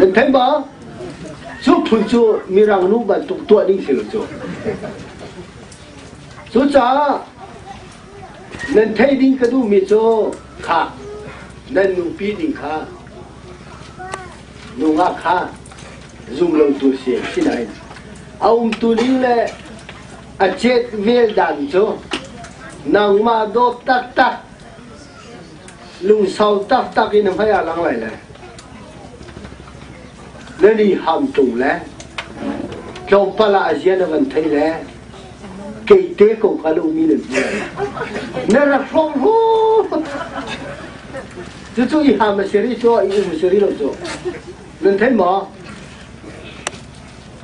Nan thei ba? Su phun cu mirang nu bantuk tuah ding si lo cu. Cu caah nan thei ding ka duhmi cu kha nan nupi ding kha Nungak kha zumlotu si a si nain a umtu ning le a chet vel dan cu nangmah dawt taktak, lungsau taktak in hmai ah lang lai le na niham tung le tlawmpal ah a zia na kan thei le kei te ko kha na um i nan hmu lai. Na rak hrawng hu! Cucu hi ha maseri cu i maseri lo cu nan thei maw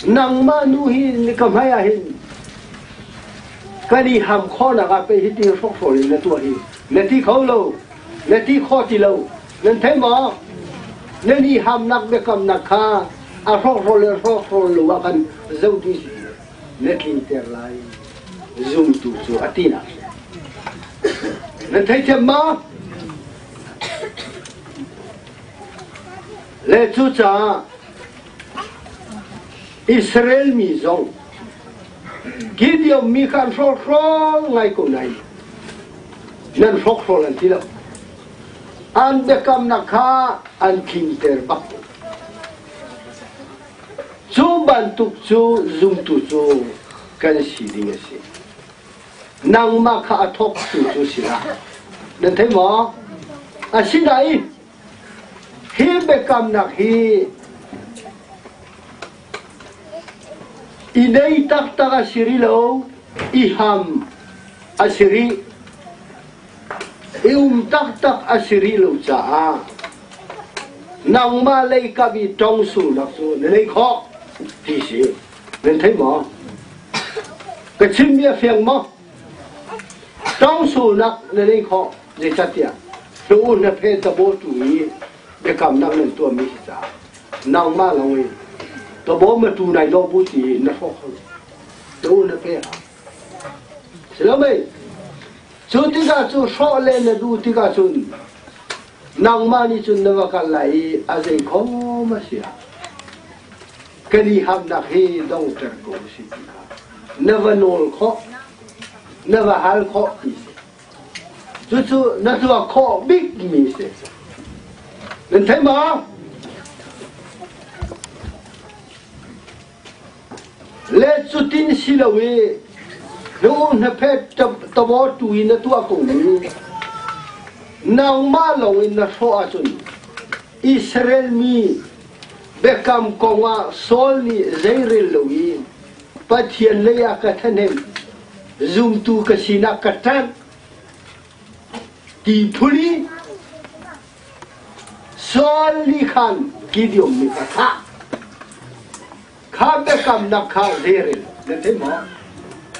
nangmah nu hi ni ka hmai ah hin kan i ham khawnak ah pei hi ti hrokhrawl in na tuah hi na ti kho lo na ti kho ti lo nan thei maw nan i hamnak biakamnak kha a hrokhrawl le hrokhrawl lo ah kan zoh dih si na tlinter lai. Zumtu cu a tinak nan theithiam ma? Le cucaah Israel mi zong Gideon mi kha an hrawlhrawl ngai ko nain nan hrawkhrawl an ti lo. An biakamnak kha an tlinter bak ko. Cu bantuk cu zumtu cu kan si ding a si. Nangmah kha a thawktu cu sinah nan thei maw? Asinain hi biakamnak hi i nei taktak a si rih lo, i ham a si rih, i um taktak a si rih lo caah Nangmah lei kam i tong sulnak cu na neih khawh ti si. Nan thei maw? Ka chimmi a fiang maw? Tong sulnak na neih khawh zeicahtiah tuu hnape tabawtu i biakamnak nan tuahmi hi ca nangmah lo in kabaw ma tu nai daw bu ti na hrawh kho tuu hnape ha si lo mei cu tikah cu hrawh le na duh tikah cun nangmah nih cun na va kalh lai i a zei khom a si ah kan i hamnak hi dongter ko u si ti kha na va nawl khawh na va hal khawh ti si cucu na tuah khawh bikmi si nan theih maw Let cutin si lo i na u hnaphet tamaw in na tuah ko mu. Nangmah lawng in na hrawh ahcun Israel mi biakam kongah Saul nih zeirel lo i Pathian leiah ka ṭhahnem zumtu ka sinak ka ṭanh ti phul i Saul nih khan Gideon mit a thlah. Kha biakamnak kha zer in na theih maw?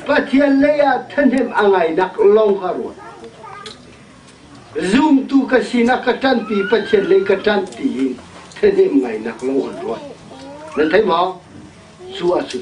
Pathian leiah ṭhahnem a ngainak lawng kha ruat. Zumtu ka sinak ka ṭanhpi, Pathian lei ka ṭanh tiin ṭhahnem ngainak lawng an ruat. Na theih maw? Cu a si.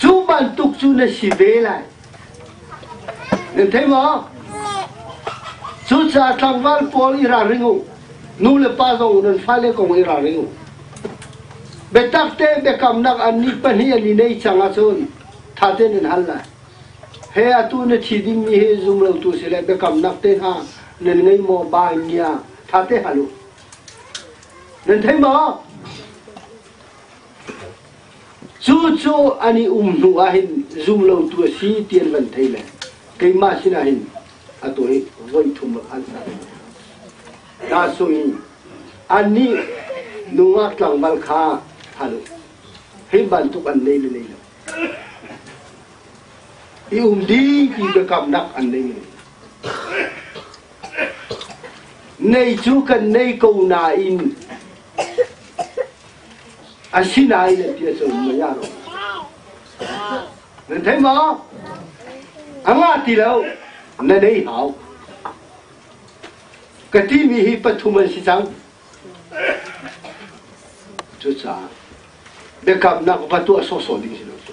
Cu bantuk cu na si ve lai. Na thei maw? Cucaah tlangval pawl i ralring u. Nu le pa zong nan fale kong i ralring u. Biatak te biakamnak an ni pahnih an i nei cang ahcun ttha tein nan hal lai. He atu na thi dingmi hi zumlotu si le biakamnak te hna nan ngei maw ba in nia ttha te hal u. Nan thei maw? Cucu an i um hnu ah hin zumlotu a si ti an van thei le keimah sinah hin atu hi voi thum an sa Nahsung in annih nungak tlangval kha hal hei bantuk an nei le nei lo i um ding ti biakamnak an nei le nei cu kan nei ko nain Asinain a pia cu mei ah rawh. Nan theih maw? A ngah ti lo. Na nei hau. Ka timi hi pathum an si cang. Cucaah biakamnak va tuah sawhsawh ding si lo cu.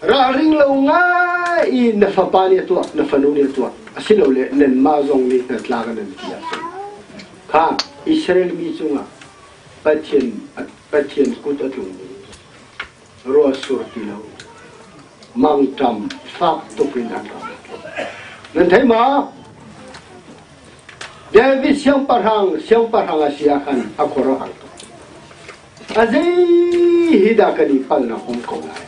Ralring lo ngai i na fapa nih a tuah, na fanu nih a tuah, asilole nanmah zong nih hnatla ka nan ti ahcun kha Israel mi cungah Pathian, Pathian kut a tlungmi ruahsur ti lo mangṭam fak tuk in an ram. Nan thei ma? David siangpahrang siangpahrang a si ah khan a khuaruahhar tuk. A zei hi dah kan i palnak um ko lai?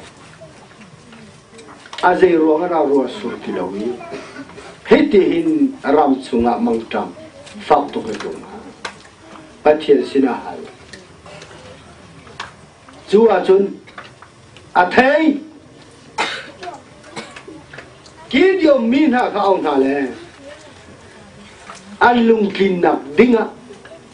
A zei ruang ah raa rua sur ti lo i, hei ti hin ram chungah mangṭam fak tuk a tlung hna. Pathian sinah hal. Cu ahcun, a thei Gideon mi hna kha au hna le an lungtlinnak dingah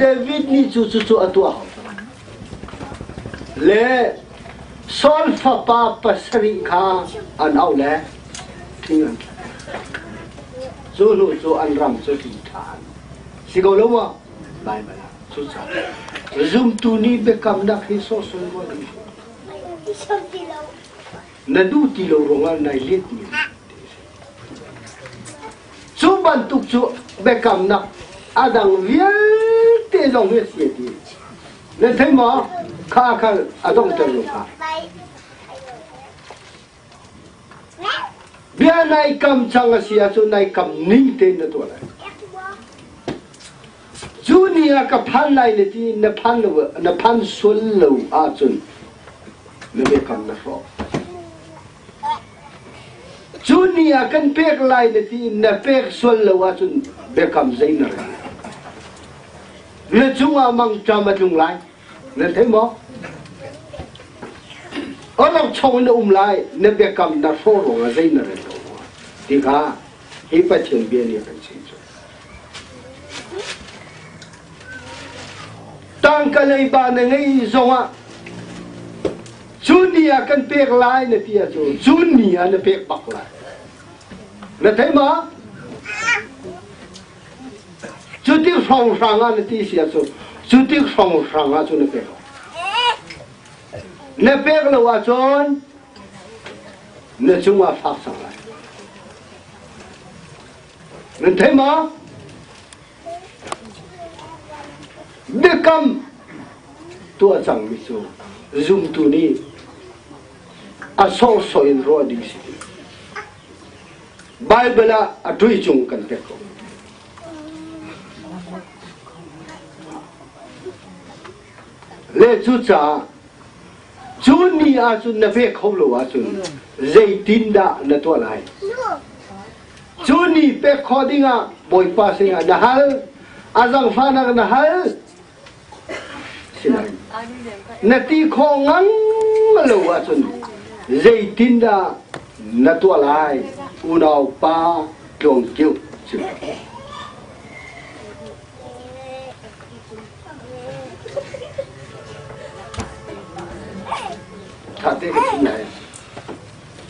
David nih cu cucu a tuah. Le Saul fapa pasarih kha an auh le thing an cu hnu cu an ram cu ti ṭhan. Si ko lo maw? Baibal ah cucaah zumtu nih biakamnak hi sawhsawh maw kan hmuh? Ti sam ti lo. na duh ti lo ruangah nai letmi te a si. Cu bantuk cu biakamnak a dang vialte zong hi a si ti na thei ma kha khal a dongter lo kha bia nai kam chang a si ahcun nai kam ning te na tuah lai Cu ni ah ka phan lai le ti na phan lo na phan sual lo ahcun na biakam na hrawh. Cu ni ah kan pek lai le ti na pek sual lo ahcun biakam zei na rel. Na cungah mangṭam a tlung lai. Na thei maw? Orok chong na um lai, na biakam na hrawh ruangah zei na rel lo rua. Ti kha hi Pathian bia nih a kan chim cu. tangka leiba na ngei zongah cun ni ah kan pek lai na ti ahcun cun ni ah na pek bak lai na thei ma cu tik hrawng hrang ah na ti si ahcun cu tik hrawng hrang ah cu na pek na pek lo ahcun na cungah fak sang lai Nan theih ma? Biakam tuah cangmi cu zumtu nih a sorsoi in ruah ding si. Baibal ah a ṭui cung kan pek ko. Le cu caah cu ni ahcun na ve kho lo ahcun zeitin dah na tuah lai? Cu ni pek khawh dingah Bawipa sinah na hal, a zangfahnak na hal. Sinain na ti khawh ngang lo ahcun zeitindah na tuah lai? Unaupa Tluang Kio si Ṭha te ka chim lai.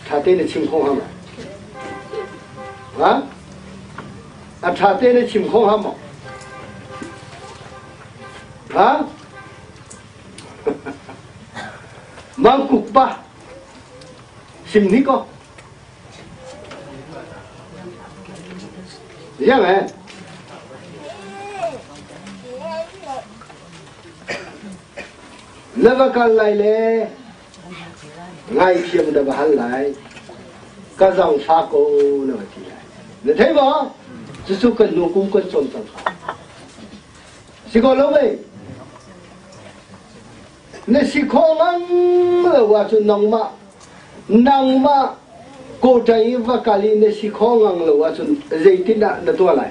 Ṭha te na chim kho ham ha? A ṭha te na chim kho ham ha? Mangkuk pa sim ni ko yang eh lava kal lai le Ngaithiam da va hal lai. Ka zau fa ko na va ti lai. Na thei ba? Jesuh kan nu kum kan chom cang ka. Si ko lo mei? Na si khawh ngam lo wa cu nangmah nangmah kawtai i va kali na si khawh ngang lo ah cun zeitin ah na tuah lai?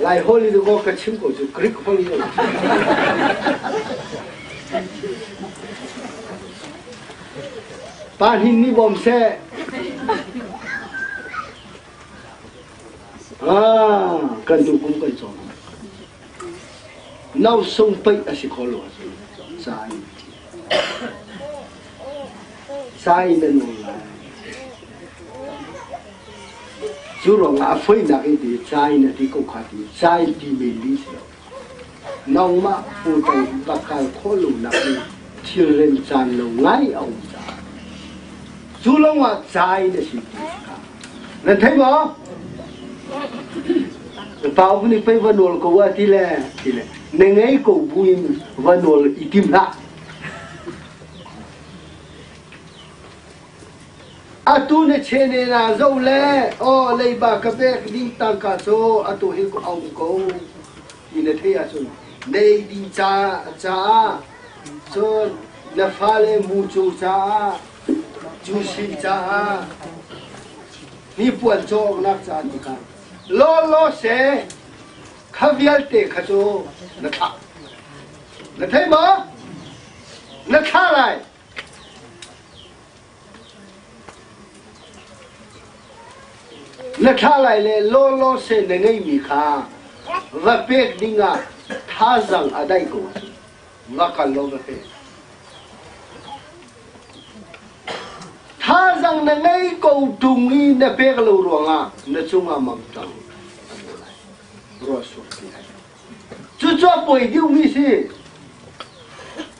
Lai Holy Book ka chim ko cu Greek hmang in Pa hin ni bawm se ah kan du kum kan chong nau sung pei asi kho lo sai sai men lai Cu ruangah a foinak in ti ca in a ti ko kha ti ca in ti men mi si lo. Nangmah putan va kal khawh lo nak in thilrem caan lo ngai a um caah cu lawngah ca in a si ti ka nan thei maw? Pa hun i pei va nawl ko a ti le ti le ne ngei ko bu in va nawl i tim hlah. Atu na chenel ah zoh le aw leiba ka pek ding tangka cu atu hi a um ko ti na theih ahcun nei ding caah cun na fale mucu caah cusi caah hnipuan cawknak caah ti kha lawlaw se kha vialte kha cu na thlah na theih maw? Na thlah lai. Na thlalai le lawlawse na ngeihmi kha va pek dingah thazaang a daih ko ahcun va kal law va pek. Thazaang na ngei ko ṭung i na pek lo ruangah na cungah mam cang. Ruah suak ti hai. Cucu a poi deuhmi si.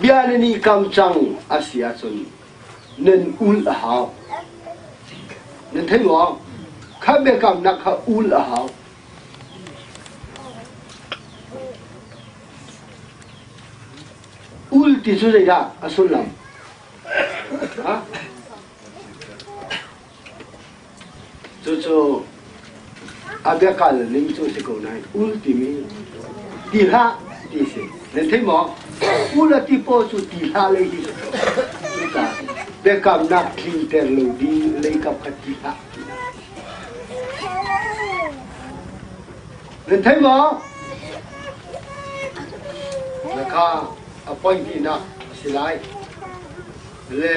Bia na nih kam cang a si ahcun nan ul a hau. Nan thei maw? Kha biakamnak kha ul a hau. Ul ti cu zeidah a sullam? Ha? Cucu a biakal ning cu si ko nain ul timi ti hlah ti si. Nan thei maw? Ul a ti paw cu ti hlah lei hi si ko. Cucaah biakamnak tlinter lo ding leikap a ti hlah ti hlah. Nan thei maw? Na kha appointment ah a si lai. Le